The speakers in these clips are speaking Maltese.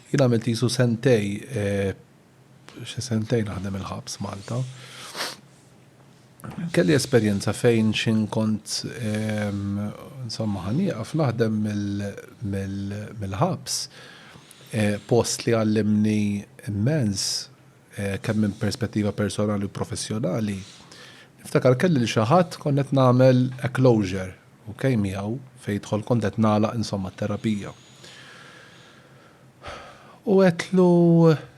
Jien għamilt qisu sentej, xi sentejn naħdem il-ħabs Malta. Kelli esperjenza fejn x'in kont insomma ħa nieqaf naħdem mill-ħabs, post li għallimni immens, eh, kemm minn perspettiva personali u professjonali, niftakar kelli li xi ħadd kont qed nagħmel a closure, ok, miegħu fejn jidħol kont qed nagħlaq insomma terapija. U għetlu,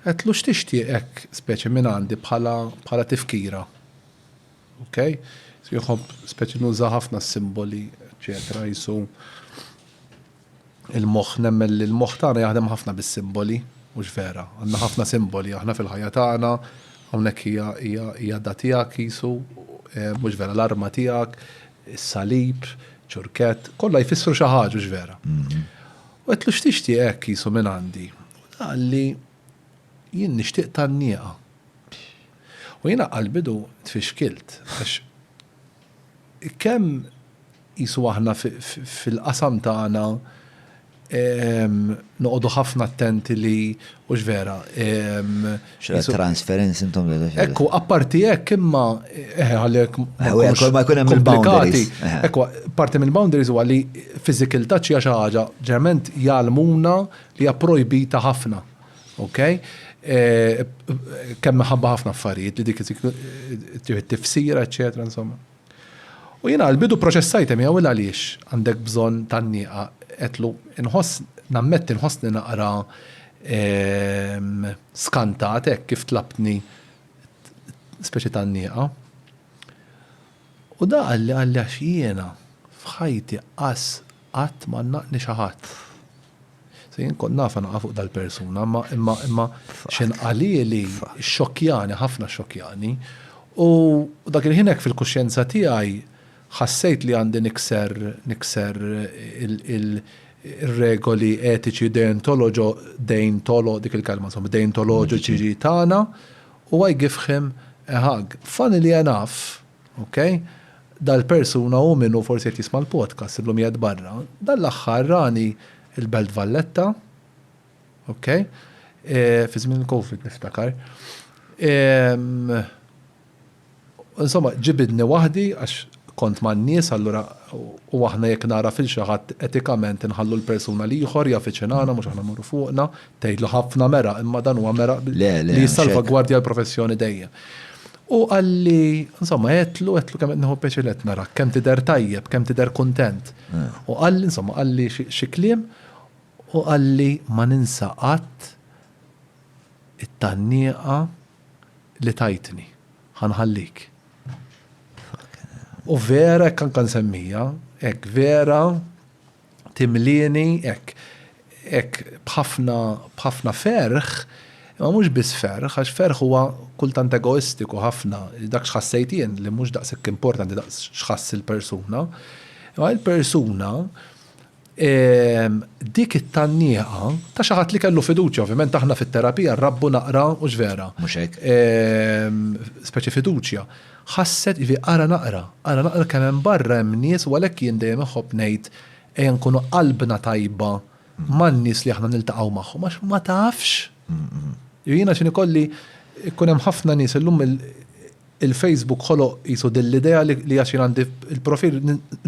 għetlu x'tixtieqek speċi minn għandi bħala bħala tifkira. Ok? Jħobb speċi nuża ħafna simboli, eċetera, jisu Il-moħħ, nemmen li l-moħħ tagħna jaħdem ħafna bis-simboli, mhux vera? Għandna ħafna simboli aħna fil-ħajja tagħna, hawnhekk hija hija hija da tiegħek qisu, mhux vera? L-arma tiegħek, is-salib, ċurkett, kollha jfissru xi ħaġa, hux vera? U għedtlu x'tixtieq hekk qisu minn għandi? U ta qalli jien nixtieq tannieqa. U jiena qalbidu tfixkilt għax kemm Qisu aħna fil-qasam tagħna noqogħdu ħafna attenti li hux vera. X'ra transferenz intom li dax. Ekku, apparti hekk imma eħe għalhekk. Kull ma jkun hemm il-boundaries. Ekku, parti mill-boundaries huwa li physical touch hija xi ħaġa ġeneralment jgħallmuna li hija projbita ħafna. Okay? Kemm minħabba ħafna affarijiet li dik tieħu t-tifsira, eċċetera, insomma. U jiena għall-bidu pproċessajt miegħu il għaliex għandek bżonn tgħanniqha, għedtlu, inħoss, nammetti nħossni naqra ehm, skantat hekk kif tlabtni speċi tgħanniqa. U da qalli qalli għax jiena f'ħajti qas Qatt ma naqni xi ħadd. Se jien kont nafha naqa' fuq dal-persuna, imma imma imma x'inqalieli xxokkjani, ħafna xxokkjani, u dak il-ħin hekk fil-kuxjenza tiegħi ħassejt li għandi nikser nikser ir-regoli etiċi deontoloġo deintolo dik il-kelma insomma deintoloġiċi tagħna u I give him a hug. Funny li enough, Ok, dal-persuna hu minnu forsi qed jisma' l-podcast illum qiegħed barra. Dan l-aħħar rani l-Belt Valletta, ok, fi żmien il-Covid niftakar. Insomma, ġibidni waħdi għax kont man-nies allura u aħna jekk nagħraf il xi ħadd etikament inħallu l-persuna l-ieħor jaf iċinana mhux aħna mmorru fuqna, tgħidlu ħafna mera imma dan huwa mera li jissalvagwardja l-professjoni dejjem. U qalli, insomma, għedtlu, għedtlu kemm qed nieħu pjaċir li qed narak, kemm tidher tajjeb, kemm tidher kuntent. U qalli, insomma, qalli xi kliem u qalli ma ninsa qatt it-tgħannieqa li tajtni, ħa nħallik. U vera hekk anke nsemmija, hekk vera. timlieni hekk hekk b'ħafna b'ħafna ferħ, imma mhux biss ferħ, għax ferħ huwa kultant egoistiku ħafna, dak x'ħassejt jien li mhux daqshekk importanti daqs x'ħass il-persuna. Imma il-persuna dik it-tannieqa ta' xi ħadd li kellu fiduċja, ovvjament aħna fit-terapija nrabbu naqra, hux vera? Mhux hekk. Speċi fiduċja. Ħasset, ivi, ara naqra, ara naqra kemm hemm barra hemm nies u għalhekk jien dejjem inħobb ngħid ejja nkunu qalbna tajba man-nies li aħna niltaqgħu magħhom għax ma tafx. Jiena x'inhi kolli jkun hemm ħafna nies illum il-Facebook ħoloq qisu din l-idea li għax jien għandi l-profil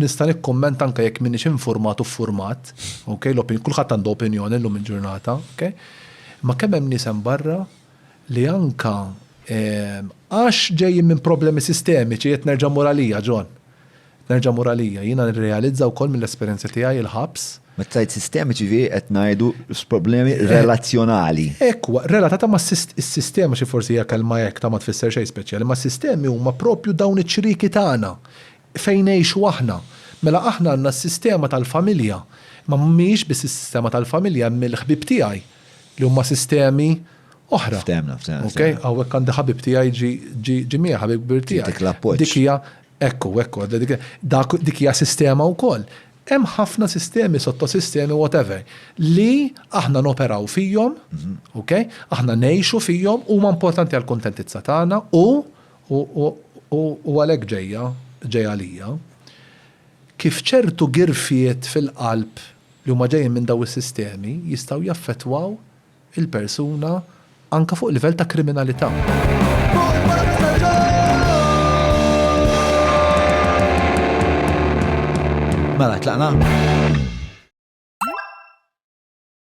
nista' nikkummenta anke jekk m'iniex infurmat u ffurmat, okay, kulħadd għandu opinjoni llum il-ġurnata, okay? Imma kemm hemm nies hemm barra? li anka għax ġejjin minn problemi sistemiċi, qed nerġa' mmur għalija, John, qed nerġa' mmur għalija, jiena nirrealizza wkoll mill-esperjenza tiegħi il-ħabs. Meta tgħid sistemiċi ġifieri qed ngħidu problemi relazzjonali. Hekk huwa, relatata ma' s-sistema xi forsi hija kelma hekk ta' ma tfisser xejn speċjali, ma' sistemi huma proprju dawn iċ-ċrieki tagħna fejn ngħixu aħna. Mela aħna għandna s-sistema tal-familja, imma mhijiex biss is-sistema tal-familja hemm il-ħbieb tiegħi, li huma sistemi oħra. Ftemna, ftemna. Ok, għawek għandi ħabib tijaj ġi mija ħabib kbir tijaj. Dik l-appoċ. Dik hija, ekku, ekku, dik hija sistema u koll. Hemm ħafna sistemi, sottosistemi, whatever, li aħna noperaw fijom, mhm. ok, aħna nejxu fijom, u ma importanti għal kontentizza tagħna u u għalek ġeja, ġeja lija, kif ċertu girfiet fil-qalb li huma ġejjin minn dawn is-sistemi jistgħu jaffettwaw il-persuna anke fuq livell ta' kriminalità. Mela, tlaqna?